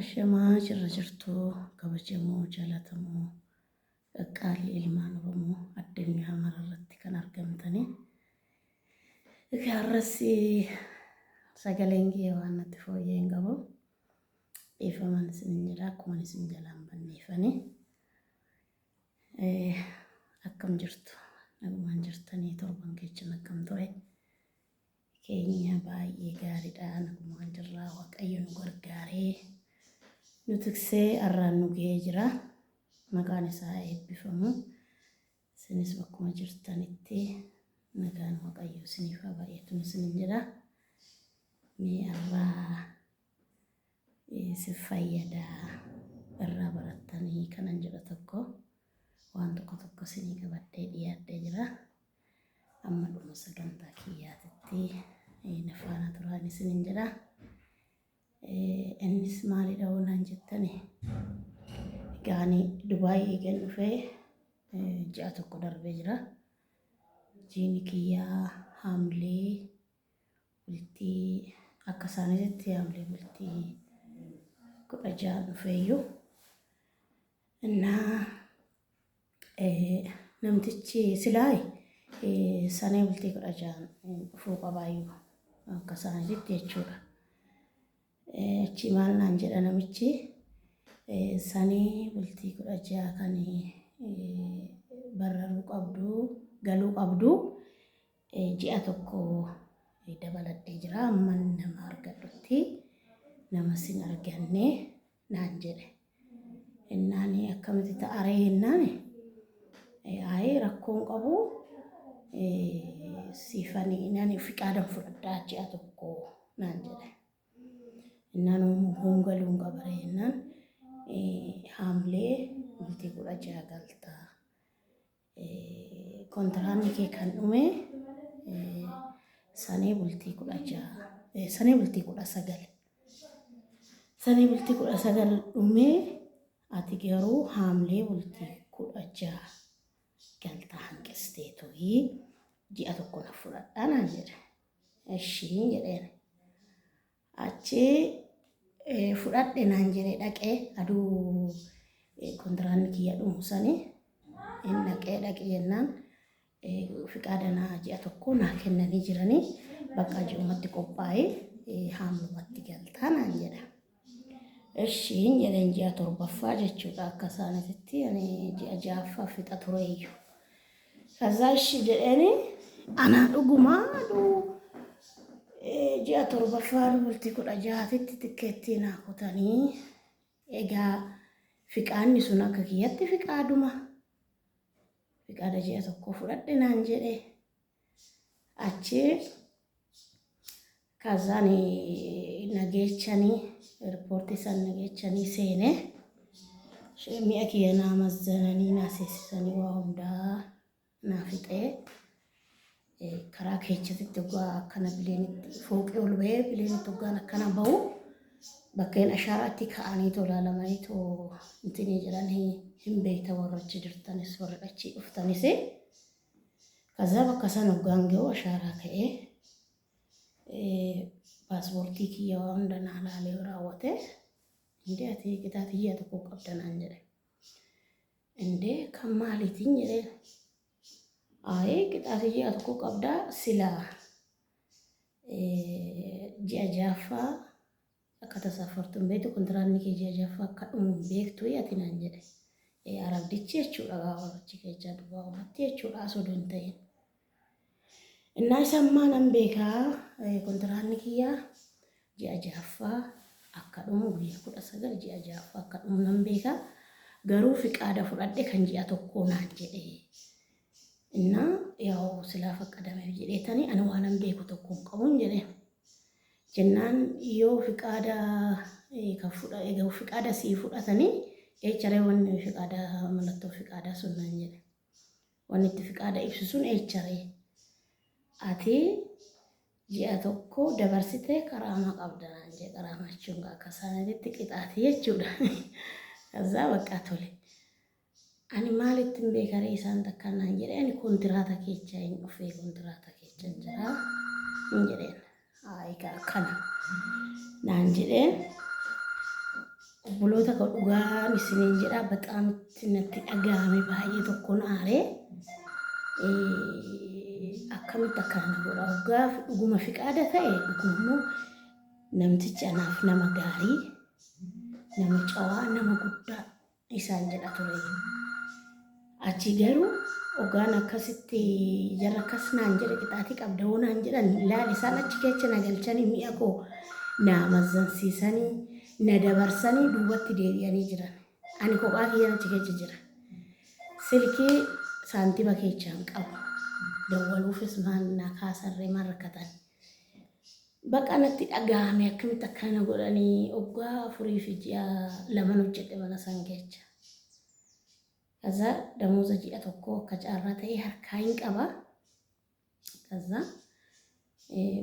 Ashamaa jirra jirtuu kabajamoo jalatamoo qaqqaalli ilmaan Oromoo addunyaa mararratti kan argamtanii egaa har'assi sagaleen kiyya waan natti fooyyee hin qabu dhiifaman isin hin jedha akkuman isin jalaan banneefanii akkam jirtu nagumaan jirtanii torban kechan akkam ture keenya baay'ee gaariidha nagumaan jirraa waaqayyo nu gargaaree nu tiksee arraan nu ga'ee jira maqaan isaa eebbifamu isinis bakkuma jirtanitti nagaan waaqayyo isiniif haa baay'atu isinin jedha mee arraa Isin fayyada irraa barattanii kanan jedhu tokko waan tokko tokko isinii qabadhee dhiyaadhee jira. Amma dhuma sagantaa kiyyaatitti eh, na faana turaan isinin jedha. Eh, Innis maalidha oonaan jettani? Egaa ani Dubaay eegan dhufee eh, ji'a tokko darbee jira. Jiini kiyyaa haamlee bultii akka isaaniitti haamlee bultii kudha ja'a dhufeeyyu innaa namtichi silaayi sanee bultii kudha ja'an dhufuu qabaayyu akka isaaniitti jechuudha. Achi maal naan jedha namichi sanee bultii kudha ja'a kan barraruu qabdu galuu qabdu Ji'a tokko dabaladhee jira amman nama argadhutti nama sin arganne naan jedhe. Innaan akkamitti ta'aree hennaan ayi rakkoon qabu siifani innaan fiqaadan fudhadhaa ji'a tokko naan jedhe. Innaan hongaluun qabare innaan haamlee bultii kudha ja'a galtaa. Kontiraanni kee kan dhume sanee bultii kudha ja'a sanee bultii kudha sagal sanee bultii kudha sagal dhume ati garuu haamlee bultii kudha ja'a galtaa hanqistee turii ji'a tokko na fudhadhaa naan jedhe ishii jedheen Achi fudhadhe naan jedhe dhaqee aduu kontiraanni kiyya dhumu sanii hin dhaqee dhaqi jennaan fiqaadanaa ji'a tokko naa kennanii jiranii bakka ji'umatti qophaa'ee haamumatti galtaa naan jedha. Ishiin jedheen ji'a torbaffaa jechuudha akka isaanitti ani ji'a ja'affaa fixa tureeyyu. Kazaa ishii jedheeni anaa dhugumaadhu ji'a torbaffaan bultii kudha jaatitti tikkeettii naa kutanii egaa fiqaanni sun akka kiyyatti fiqaaduma fiqaada ji'a tokko fudhadhe naan jedhe achi Kazani nagechani airport san nagechani seene She- mi'a kiyya naa mazzananii naa seesisanii waa hundaa naa fixee Eh, karaa keechatitti dhugaa akkana bileenitti fooqee ol bahee bileenitti dhugaan akkana bahu bakkeen ashaaraatti ka'anii too laalamanii too intini jedhan hin hin beekta warra achi jirtanis warra achi dhuftanis kazaa bakka san hoggaan ga'u ashaaraa ka'ee Paaspoortii kiyya waa hunda naa laalee raawwatee indee ati qitaa tiyyaa tokko qabda naan jedhe. Indee kan maaliitiin jedhee aayee qitaa tiyyaa tokko qabdaa silaa ji'a jaaffaa Akka tasaa fortu hin beektu kontiraanni kee ji'a jaffaa akka dhumu hin beektu ati naan jedhe. Ee arabdichi jechuudha gaafa achi keechaa dubbaa umatti jechuudha as odoo hin ta'in. Innaa isa ammaa nan beekaa kontiraanni kiyyaa ji'a jaffaa akka dhumu guyyaa kudha sagal ji'a jaffaa akka dhumu nan beekaa garuu fiqaada fudhadhe kan ji'a tokkoo naan jedhe. Innaa yaa'u silaa faqqadameef jedheetanii ani waanan beeku tokko hin qabuun jedhee. jennaan yoo fiqaada ka fudha ega fiqaada sii fudhatanii eecharee wanni fiqaada mallattoo fiqaadaa sun naan jedhe wanni itti fiqaada ibsu sun eecharee ati ji'a tokko dabarsitee qaraamaa qabda naan jedhe qaraamaa jechuun akka isaaniitti qixaati jechuudha kazaa baqqaa tole Ani maalittin beeka ree isaan takkaa naan jedhe ani kontiraata keecha hin dhufee kontiraata keecha hin jira hin jedheen egaa kana naan jedhee obboloota koo dhugaan isiniin jedha baxaam itti natti dhaga'ame baay'ee tokkoon aaree akkamitti akkana na godha dhugaa dhuguma fiqaada ta'e dhugummoo namtichi anaaf nama gaarii nama cawaa nama guddaa isaan jedha ture. Achi garuu ogaan akkasitti jarra akkas naan jedhe qixaatii qabda hoo naan jedhan laal isaan achi keessa na galchanii mi'a koo na mazzansiisanii na dabarsanii duubatti deebi'anii jiran. Ani kophaa kiyyaan achi keessa jira. Silkii saantima keessa hin qabu. Dawwaluufis maal na kaasarree maal rakkatan. Baqa natti dhagahame akkamitti akkana godhani oggaa afurii fi ji'a laman hojjedhe mana san kecha. Kaza damoza ji'a tokko akka caarraa ta'e harkaa hin qaba. Kaza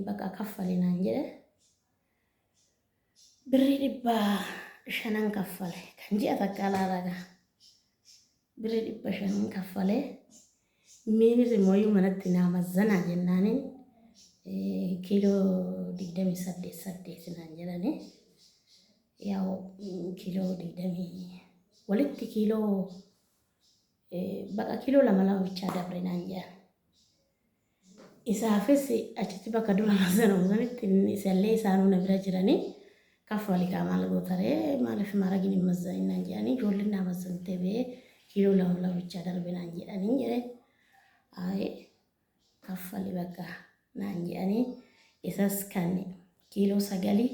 baqa kaffali naan jedhe. Birri dhibba shanan kaffale kan ji'a takka alaa raga. Birri dhibba shanan kaffale. Miinir immoo yoo manatti naa mazzanaa jennaaniin kiiloo digdamii saddeet saddeet naan jedhani. Yaa'u kiiloo digdamii walitti kiiloo baqa kiiloo lama lama bichaa dabre naan jedhan. Isaafis achitti bakka dura mazzanamu sanitti isallee isaanuu na bira jiranii Kaffali kaa maal goota ree maalif maaragin hin mazzanin naan jedhanii ijoolleen naa mazzante bee kiiloo lama lama bichaa darbe naan jedhanii jedhe ayi kaffali bakka naan jedhanii isas kan kiiloo sagalii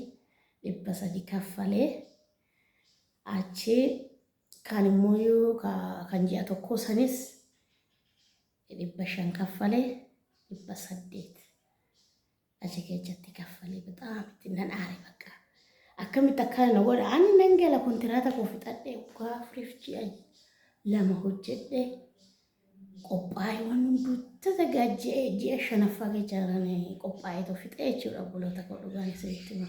dhibba sadi kaffalee achi kaan immoo yoo ka- kan ji'a tokkoo sanis dhibba shan kaffalee dhibba saddeet Achi keessatti kaffalee bataam itti nan aare bakka. Akkamitti akkana na godha ani nan gala kontiraata koo fixadhee waggaa afuriif ji'a lama hojjedhee qophaa'ee waan hunduu tasagaa ji'a ji'a shanaffaa keessa jiranii qophaa'ee too fixee jechuudha obboloota koo dhugaan isinitti hima.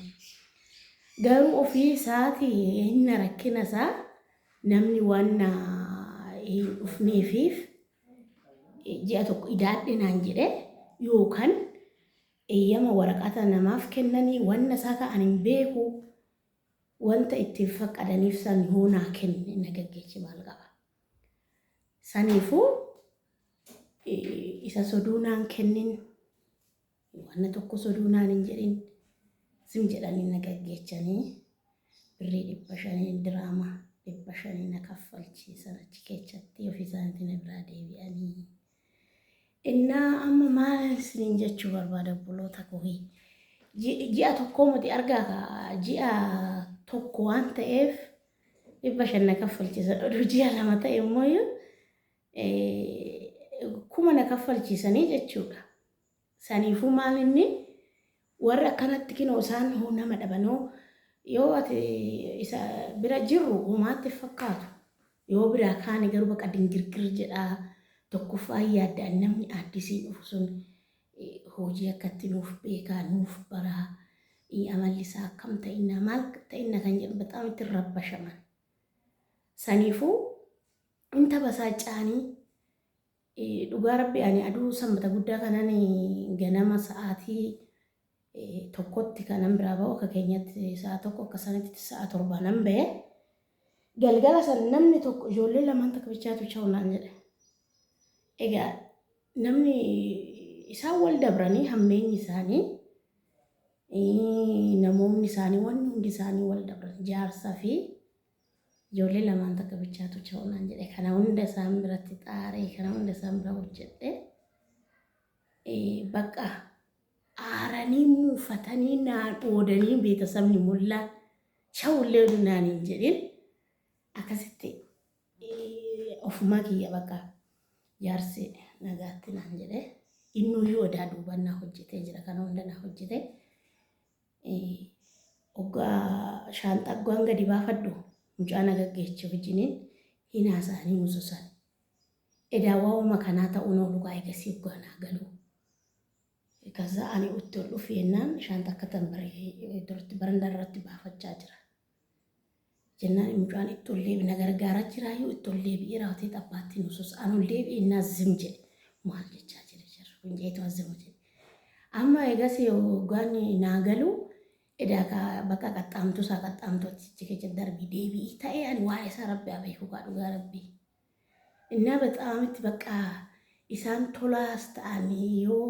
Garuu ofii isaati inni rakkina isaa namni waan na hin dhufneefiif ji'a tokko idaadhe naan jedhe yookaan eeyyama waraqata namaaf kennanii wanna isaa ka'an hin beeku wanta ittiin faqqadaniif san yoo naa kenne na gaggeessi maal qaba. Saniifuu isa soduu naan kennin Wanna tokko soduu naan hin jedhin sim jedhanii na gaggeechanii birrii dhibba shanii diraama dhibba shanii na kaffalchiisan achi keechatti ofii isaaniitiin na biraa deebi'anii. Innaa amma maal isiniin jechuu barbaada obboloota koohii. Ji'a tokkoo miti argaa ka ji'a tokko waan ta'eef dhibba shan na kaffalchiisan oduu ji'a lama ta'e immoo kuma na kaffalchiisanii jechuudha. Saniifuu maal inni, warri akkanatti kinoo isaan hoo nama dhabanoo, yoo ati isa bira jirru homaa itti hin fakkaatu, yoo biraa kaane garuu baqa dingirgir jedha, tokkoffaa hin yaadda inni namni aaddisiin dhufu sun hojii akkatti nuuf beekaa, nuuf baraa, amalli isaa akkam ta'inna, maal ta'inna kan jedhu baxaam itti hin rabbashaman. Saniifuu hin tabasaaca'anii Dhugaa rabbi ani aduu sanbata guddaa kanan ganama sa'aatii tokkotti kanan biraa ba'u akka keenyatti sa'a tokko akka sanitti sa'a torba nan ba'e galgala san namni tokko ijoollee lamaan takka bichaatu cha'u naan jedhe egaa namni isaan wal dabranii hammeenyi isaanii namoonni isaanii wanni hundi isaanii wal dabran jaarsa fi Ijoollee lamaan takka bichaatu cha'u naan jedhe. Kana hunda isaan biratti xaaree, kana hunda isaan bira hojjedhe. Bakka aaranii muufatanii naa dhoodanii beetasabni mullaa cha'ullee naan hin jedhin. Akkasitti ofumaa kiyya bakka jaarsi nagaatti naan jedhe. Innuyyuu odaa duubannaa hojjetee jira. Kana hunda naa hojjetee. Oggaa shaanxaa oggaan gadi baafadhu mucaa na gaggeeche wajjiniin hin haasa'anii mususan. Edaa waa'uma kanaa ta'uun oolu kaa eegasii oggaa naa galu. Kaza ani utti ol dhufu yennaan shaanxa akka tanbare duratti baranda irratti baafachaa jira. Jennaan mucaan itti ol deebi na gargaaraa jiraayyuu itti ol deebi'ee raawwatee xabbaatti nu suusa. An ol deebi'e inni azzim jedhe. Maal jechaa jira jarri kun jeetu azzima jedhe. Amma egas hoggaan naa galu edaa ka bakka qaxxaamtuu isaa qaxxaamtuu achichi keessa darbi deebi'i ta'ee ani waa'ee isaa rabbi haa beeku kaa dhugaa rabbii. እና በጣም itti በቃ isaan tolaas ta'anii yoo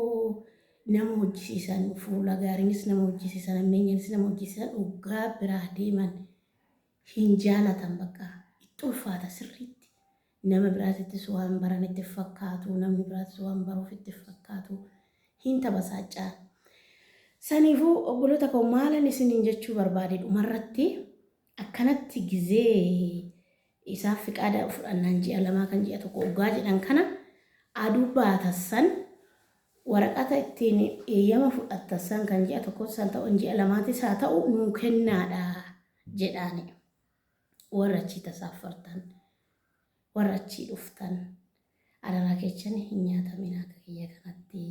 nama hojjisiisan fuula gaariinis nama hojjisiisan ammeenyanis nama hojjisiisan dhugaa biraa deeman hin jaalatan bakka itti ulfaata sirriitti nama biraatittis waan baran itti fakkaatu namni biraatis waan baruuf itti fakkaatu hin tabasaachaa. Saniifuu obboloota koo maalan isiniin jechuu barbaade dhumarratti akkanatti gizee Isaaf fiqaada fudhannaan ji'a lamaa kan ji'a tokko oggaa jedhan kana aduu baatan san waraqata ittiin eeyyama fudhattan san kan ji'a tokkos san ta'u ji'a lamaatis haa ta'u nuu kennaadha jedhaani warra achii tasaaffartan warra achii dhuftan Adaraa keechan hin nyaatamin akka kiyya kanatti.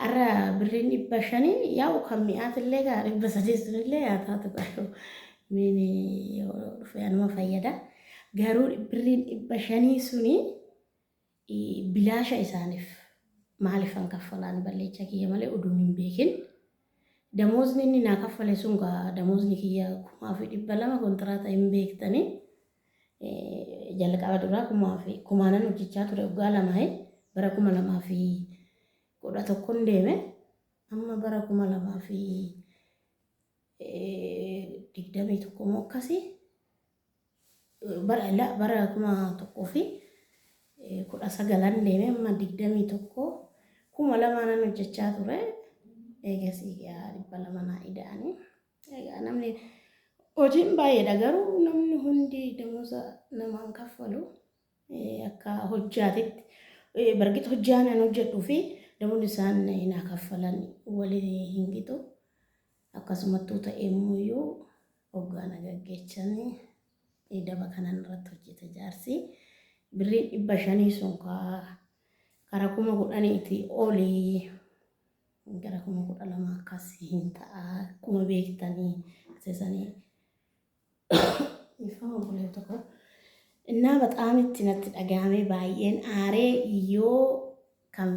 Arra birriin dhibba shaniin yaa'u kan mi'aatillee gaa dhibba sadii sunillee yaa taatu garuu miini yoo dhufe anuma fayyada. Garuu birriin dhibba shanii suni i- bilaasha isaaniif maaliifan kaffalaan balleecha kiyya malee uduun hin beekin. Damoozni inni naa kaffale sun gaa damoozni kiyya kumaa fi dhibba lama kontiraata hin beektanii. Jalqaba duraa kumaa fi kumaanan hojjechaa ture waggaa lama bara kuma lamaa fi kudha tokkon deeme amma bara kuma lamaa fi digdamii tokko moo akkasii bara la- bara kuma tokkoo fi eh, kudha sagalan deeme amma digdamii tokko kuma lamaanan hojjechaa ture eegasii yaa dhibba lama naa ida'anii Egaa namni hojiin baay'eedha garuu namni hundi damuusa namaan kaffalu akka hojjaatitti bargit hojjaan an hojjedhuu fi damuun isaan naa kaffalan waliin hin gitu akkasumattuu ta'ee immoo hoggaana gaggeechan daba kanan irratti hojjeta jaarsi birrii dhibba shanii sun karaa kuma kudhaniitii olii Gara kuma kudha lama akkasii hin ta'a. Akkuma beektanii sesanii ifama obboleetti tokko innaa baxaamitti natti dhaga'amee baay'een aaree yoo kan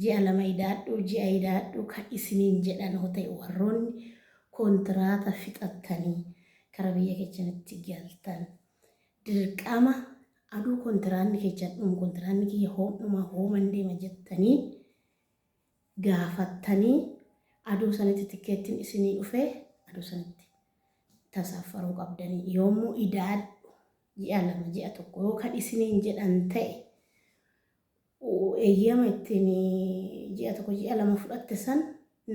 ji'a lama idaadhu ji'a idaadhu kan isiniin jedhan hoo ta'e warroonni kontiraata fixattanii kara biyya kechanitti galtan dirqama aduu kontiraanni kechan dhum kontiraanni kiyya hoomdhuma hooman deema jettanii gaafattanii adoo sanitti tikkeettiin isinii dhufee adoo sanitti tasaaffaruu qabdanii yoommoo idaadhu ji'a lama ji'a tokko yoo kan isiniin jedhan ta'e eeyyama ittiin ji'a tokko ji'a lama fudhatte san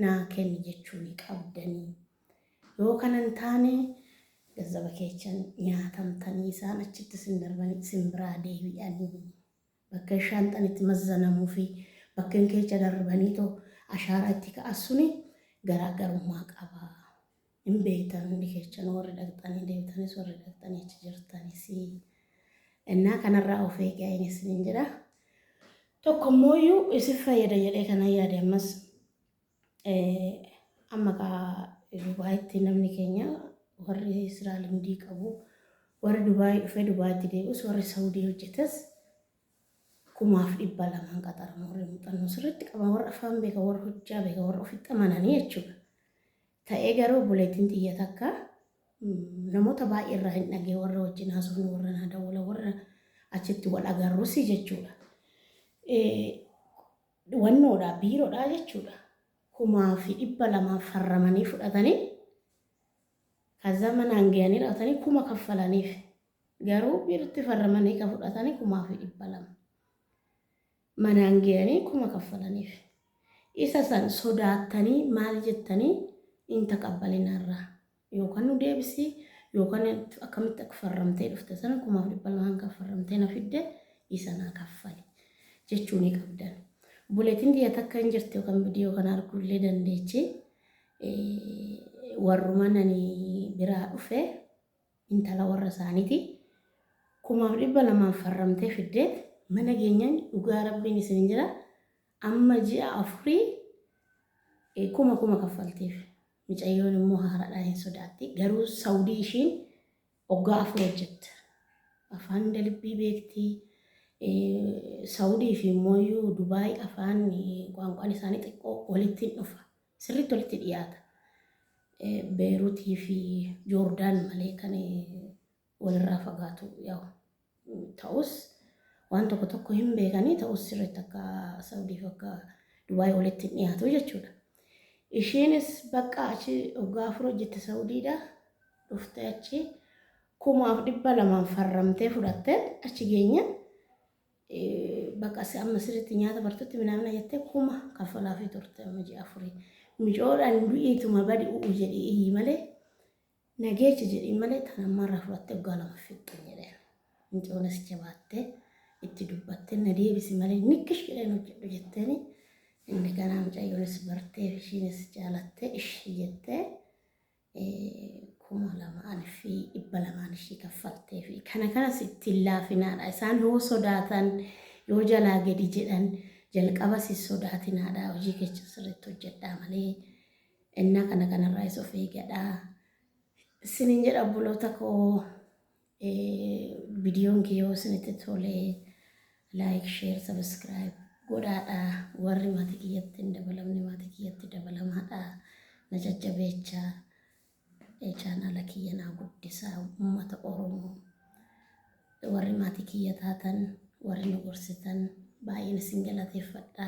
naa kenni jechuu ni qabdanii yoo kana hin taane gazzaba keechan nyaatamtanii isaan achitti isin darbanii isin biraa deebi'anii Bakken shaanxan itti mazzanamuu fi bakken keecha darrbaniito ashaaraa itti ka'an suni garaagarummaa qaba. Hin beektan hundi keechanu warri dhaqxanii deemtanis warri dhaqxanii achi jirtanis. Ennaa kanarraa of eegaa in isiniin jedha. Tokko immooyyuu isin fayyada jedhee kanan yaade ammas Amma kaa Dubaayitti namni keenya warri siraa limdii qabu warri Dubaayii dhufee Dubaayitti deebi'us warri Sawudii hojjetes kumaaf dhibba lamaan qaxarama warri muuxannoo sirriitti qaban warra afaan beekan warra hojjaa beekan warra ofitti amananii jechuudha. Ta'ee garuu buleetiin xiyya takka namoota baay'ee irraa hin dhagee warra wajjin haasofnu warra naa dawwala warra achitti wal agarrusi jechuudha. Dwannoodhaa, biirodhaa jechuudha. kumaa fi dhibba lamaa farramanii fudhatanii kaza manaan gayanii raawatanii kuma kaffalaniif garuu biirtti farramanii ka fudhatanii kumaa fi dhibba lama manaan gayanii kuma kaffalaniif isa san sodaattanii maal jettanii hin taqabbalinarraa Yookan nu deebisi yookan akkamitti akfarramtee dhufte sana kumaaf dhibba lama hanga affarramtee na fidde isa naa kaffali jechuu ni qabdan. Obboleettiin tiyya takka hin jirti yookan viidiyoo kana arguu illee dandeechi. Warruman ani biraa dhufe intala warra isaaniiti. Kumaaf dhibba lamaan farramtee fiddeet mana geenyaan dhugaa rabbiin isin jira amma ji'a afurii kuma kuma kaffalteef. Micayyoon immoo haaradhaa hin sodaatti garuu saudii ishiin oggaa afur hojjette afaan hunda libbii beektii saudii fi immoo iyyuu dubaay afaan qaanqaan isaanii xiqqoo walitti hin dhufa sirriitti walitti dhiyaata beerutii fi joordaan malee kan walirraa fagaatu yaa'u ta'us waan tokko tokko hin beekanii ta'us sirriitti akka Saudiif akka Dubaay walitti hin dhiyaatu jechuudha. Ishiinis bakka achi waggaa afur hojjette Saudiidha dhuftee achi kumaaf dhibba lamaan farramtee fudhatte achi geenye bakka si amma sirriitti nyaata bartutti minaamina jettee kuma kaffalaa fi turte amma ji'a afurii. Micoodhaan du'iituma badi u'u jedhii iyyi malee Na geecha jedhiin malee tan ammaarraa fudhattee waggaa lama fixxu hin jedheen. Mucoonis jabaattee itti dubbattee na deebisi malee nikkish jedheen hojjedhu jetteeni. Inni kanaa mucayyoonis bartee fi ishiinis jaalattee ishii jettee kuma lamaan fi dhibba lamaan ishii kaffaltee fi kana kanas ittiin laafinaadha. Isaan yoo sodaatan yoo jalaa gadi jedhan jalqabas hin sodaatinaadha. Hojii keessa sirriitti hojjedhaa malee. Ennaa kana kanarraayis of eegadhaa. Isiniin jedha obboloota koo vidiyoon kee yoo isinitti tole like, share, subscribe godhaadha. Warri maatii kiyyatti hin dabalamne maatii kiyyatti dabalamaadha. Na jajjabeechaa chaanaala kiyya naa guddisaa uummata Oromoo. Warri maatii kiyya taatan warri nu gorsitan baay'een isin galateeffadha.